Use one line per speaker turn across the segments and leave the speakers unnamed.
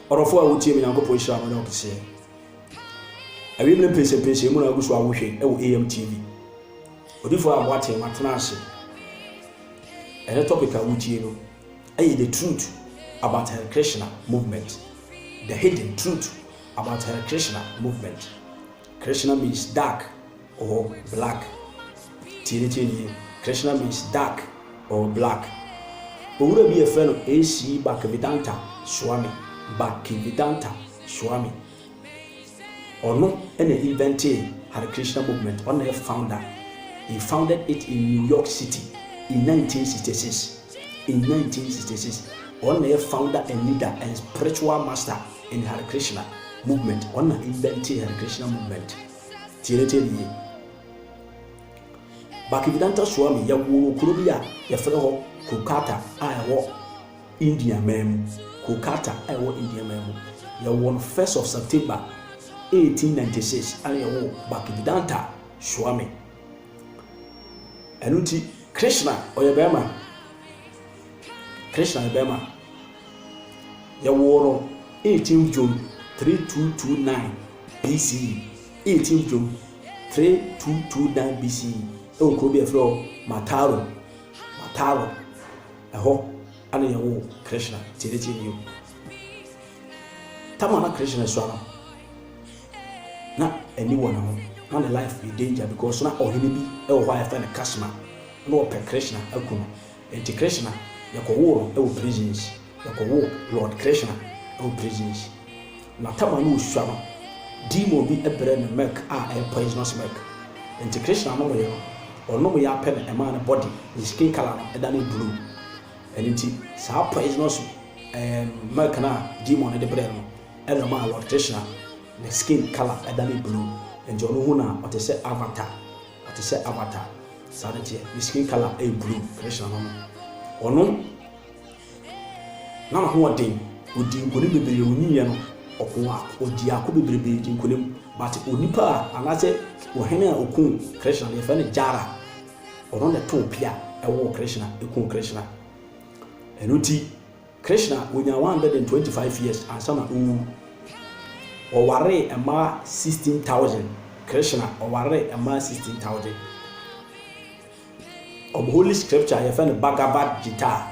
Ɔdɔfoɔ a wotie me Nyankopɔn hyira no ne ɔkeseɛ. Awiem ne mpensenpensen mu na agu so a wohwɛ wɔ AM TV. Odifoɔ a moate matena ase. Ɛnɛ topic a wotie no ɛyɛ the truth about Hare Krishna movement. The hidden truth about Hare Krishna movement. Krishna means dark. or black Tie ne tirinwi yi Krishna means dark or black Owura bi a yɛfrɛ no AC Bhaktivedanta Swami, Bhaktivedanta Swami, ɔno na inventee Hare Krishna movement, ɔno na yɛ founder, he founded it in New York City in nineteen sixty six, in nineteen sixty six, ɔno na yɛ founder and leader and spiritual master in Hare Krishna movement, ɔno na inventee Hare Krishna movement. Tie ne tɛm yie. Bhaktivedanta Swami yɛ woo wɔ kuro bi a yɛfrɛ hɔ Kolkata a ɛwɔ India man mu. Kolkata a ɛwɔ India man mu. Yɛ woo no first of September 1896 ɛna yɛ woo Bhaktivedanta Swami. Ɛno nti Krishna ɔyɛ bɛɛma. Krishna yɛ bɛɛma. Yɛwoo no 18 June 3229 BCE. 18 June 3229 BCE. wɔ kuro bi a yɛfrɛ hɔ Mataro. Mataro. Ɛhɔ ana yɛwoo Krishna. Tie ne tie bio. Tama na Krishna sua no, na ani wɔ ne ho. Na ne life yɛ danger because na ɔhene bi wɔ hɔ a yɛfrɛ no Kasma. Na ɔpɛ Krishna aku no. Enti Krishna, yɛkɔwoo no wɔ prisons, yɛkɔwoo Lord Krishna wɔ prisons. Na Tama no ɔsua no, demon bi brɛɛ no milk a ɛyɛ poisonous milk. Enti Krishna nomeeɛ no, ɔnomeeɛ ara pɛ na ɛmaa ne body, ne skin colour no danee blue. Ɛno nti saa poisonous eem milk no a demon no de brɛɛ no no na ɛmaa Lord Krishna ne skin colour danee blue. Enti ɔno hu no a, ɔte sɛ Avatar. Ɔte sɛ avatar, saa ne teɛ. Ne skin colour yɛ blue, Krishna no no. Ɔno na n'ahoɔden, ɔdii nkonim bebree, ɔnyiiɛ no, ɔkoo ako, ɔgyee ako bebrebee dii nkonim, but onipa a anaasɛ ɔhene a ɔkuu Krishna no, yɛfrɛ no Jara. Ɔno na ɛtoo pea, ɛwoo Krishna, ɛkuu Krishna. Ɛno nti. Krishna onyaa 125 years ansa na owu. Ɔwaree mmaa 16,000. Krishna ɔwaree mmaa 16,000. Wɔn holy scripture a yɛfrɛ no Bhagavad Gita,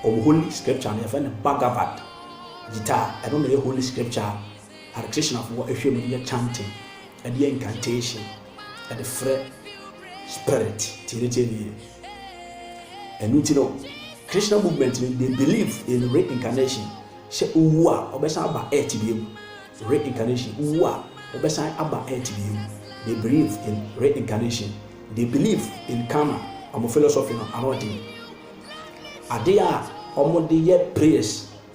wɔn holy scripture no yɛfrɛ no Bhagavad Gita. Ɛno na ɛyɛ holy scripture a Hare Krishnafoɔ hwɛ mu de yɛ chanting, de yɛ incantation. de frɛ spirit. Tie ne tie ne yie. Ɛnu ti no Krishna movement no they believe in reincarnation sɛ wowu a wɔbɛsan aba earth bio. Reincarnation wowu a wɔbɛsan aba earth bio. They believe in reincarnation. They believe in karma. Wɔn philosophy no ano ɔden. Ade a wɔde yɛ prayers.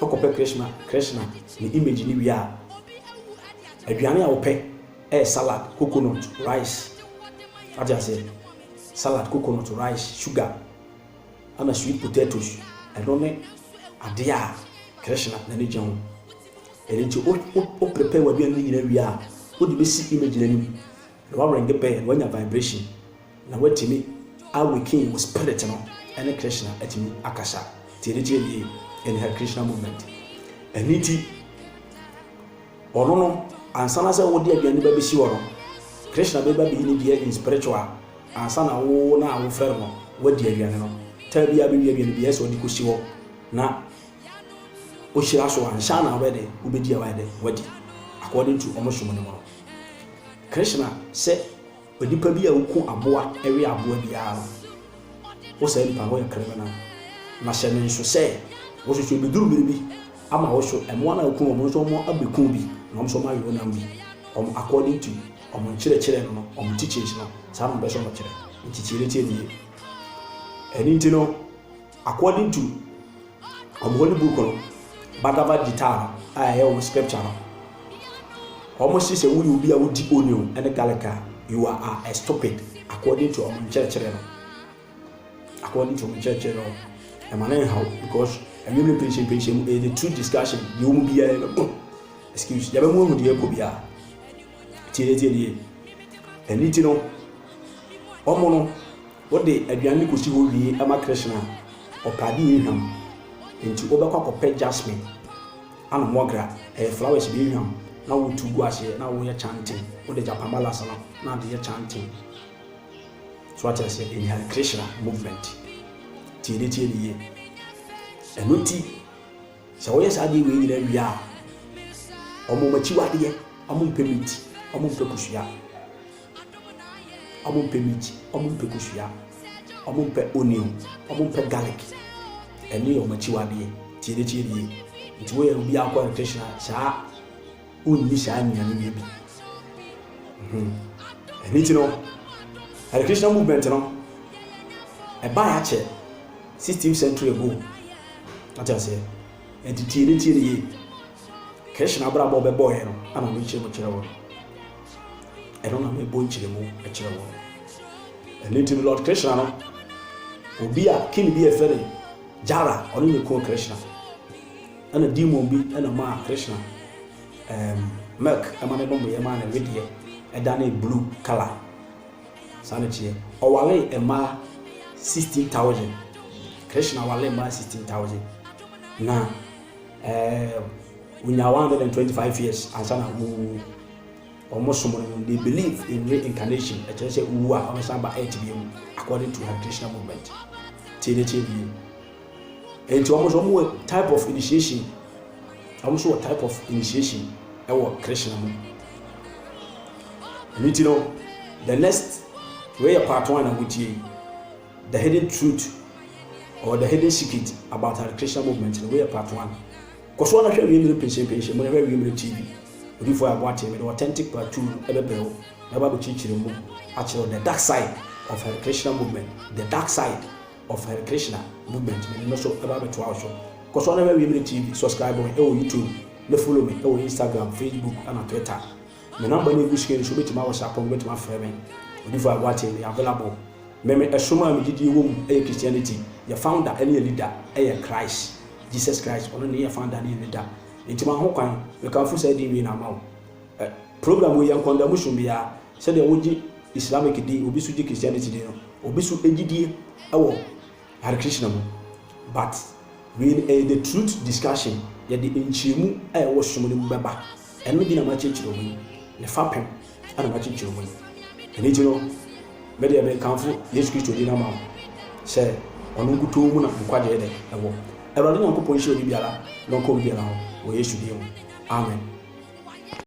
Wokɔpɛ Krishna Krishna ne image no wie a, aduane a wopɛ yɛ salad, coconut, rice. Wate aseɛ? Salad, coconut, rice, sugar, ɛna sweet potatoes. Ɛno ne adeɛ a Krishna n'ani gye ho. Ɛno nti wo prepare w'aduane no nyinaa wie a, wode bɛsi image no anim. Na w'awerɛngye bɛn na w'anya vibration na w'atumi awaken wo spirit no ɛne Krishna atumi akasa tie ne kyerɛ yie in Hare Krishna movement ɛno nti ɔno no ansa na sɛ wode aduane ba bɛsi hɔ no Krishna bɛba bɛyi ne deɛ in spiritual ansa na wo na wofrɛ no wadi aduane no taa biara bɛwi aduane biara sɛ ɔde kɔsi hɔ na Ohyira so anhyɛ a na wobɛyɛ dɛ wobɛdi a wayɛ dɛ wadi according to ɔmo som no mu no. Krishna sɛ onipa bi a oku aboa we aboa biara no wo saa nipa no woyɛ criminal na hyɛ no nso sɛ wo nso so ebeduru bere bi ama wo so mmoa no a oku wɔn no nso ɔmo abɛku bi na ɔmo nso ɔmo awe ɔnam bi ɔmo according to ɔmo nkyerɛkyerɛ no no ɔmo teachings no saa na ɔmo pɛ sɛ ɔmo kyerɛ nti tie no tie no yie ɛno nti no According to wɔn holy book no, Bhagavad Gita no a ɛyɛ wɔn scripture no, wɔn se sɛ woyɛ obi a wodi onion ne garlic a, you are a, a stupid according to wɔn nkyerɛkyerɛ no. According to wɔn nkyerɛkyerɛ no, ɛma no nhaw because anwummerɛ mpenhyɛmpenhyɛ mu ɛyɛ the true discussion deɛ wɔn biara no oh, excuse yɛbɛ mu ahu deɛ ɛkɔ biara tie tie nie ɛni ti no wɔn no Wode aduan no kosi hɔ wie ma Krishna a, ɔpɛ ade ehwam. Enti wobɛkɔ akɔpɛ jasmine ana mogra, ɛyɛ flowers bi ehwam, na wotu gu aseɛ na woyɛ chanting. Wode japamala sa no na de yɛ chanting. So wate aseɛ? Ɛyɛ Hare Krishna movement. Tie no, tie no yie. Ɛno nti, sɛ woyɛ saa adeɛ wei nyinaa wie a, wɔn akyiwadeɛ, wɔmpɛ meat, wɔmpɛ kosua. Ɔmo mpɛ meat, ɔmo mpɛ kosua, ɔmo mpɛ onion, ɔmo mpɛ garlic. Ɛno yɛ ɔmo akyiwadeɛ. Tie ne tie nie, nti woyɛ obi a wokɔ electrician a saa wonni saa nnuane wei bi. Mhmm. Ɛno nti no electrician movement no ɛbaeɛ akyɛ sixteenth century ago. Wate aseɛ? Nti tie ne tie ne yie. Krishna abrabɔ a ɔbɛbɔeɛ no ɛna ɔno kyerɛ mu kyerɛ wo no. ɛno na mebɔ nkyerɛmu kyerɛ wɔn. Ɛno nti no Lord Krishna no, obi a king bi a ɛfɛ ne Jara, ɔno na ɛkuu Krishna. Ɛna demon bi ɛna maa Krishna um, milk ɛma ne nomeɛ maa ne wedeɛ ɛdanee blue color. Saa na ɛteɛ. Ɔwalee mmaa 16,000. Krishna walee mmaa 16,000. Na eh, onyaa 125 years ansa na ɔwuwu. Wɔn som no no they believe in reincarnation ɛkyerɛ sɛ wowu a wɔn san ba earth bia mu according to Hare Krishna movement tie ne tie bie ɛnti wɔn nso wɔn wɔ type of initiation wɔn nso wɔ type of initiation ɛwɔ Krishna mu ɛno ti no the next wei yɛ part one na mo tie the hidden truth or the hidden secret about Hare Krishna movement no wei yɛ part one. Kɔ so ara hwɛ Wiemire Pinsyenpinsyen mu na hwɛ Wiemire TV. Odifo a ɛbo ateɛ, mede authentic part two no bɛbrɛ wo na mɛba abɛkyerɛkyerɛ mu akyerɛ wo the dark side of Hare Krishna movement, the dark side of Hare Krishna movement, mede no so bɛba abɛtoa wo so. Kɔ so ara na hwɛ Wiemire TV, subscribe me wɔ YouTube, na follow me wɔ Instagram, Facebook, ɛna Twitter. Me number no egu screen no so wobɛtumi a whatsapp me wobɛtumi afrɛ me Odifo Aguakye meyɛ available Me me ɛsom a me gyidie wɔ mu yɛ Christianity yɛ founder ɛne yɛ leader ɛyɛ Christ Jesus Christ ɔno ne yɛ founder ne yɛ leader nti ma ho kwan me kamfo saa din wei na ama wo ɛ program wei yɛ nkɔndamu som biara sɛdeɛ wogye Islamic din obi so gye Christianity din no obi so gyidie ɛwɔ Hare Krishna mu but wei no ɛyɛ the truth discussion yɛde nkyerɛmu a ɛwɔ som no mu bɛba ɛno bi na makyerekyere ɔmo yi ne fapem ɛna makyerekyere ɔmo yi ɛno nti no me deɛ mekamfo Yesu Kristo din ama wo sɛ ɔno nkutoo mu na nkwagyeɛ dɛ ɛwɔ Awurade Nyankopɔn nhyira obi biara na ɔka obi biara ho wɔ Yesu din mu Amen.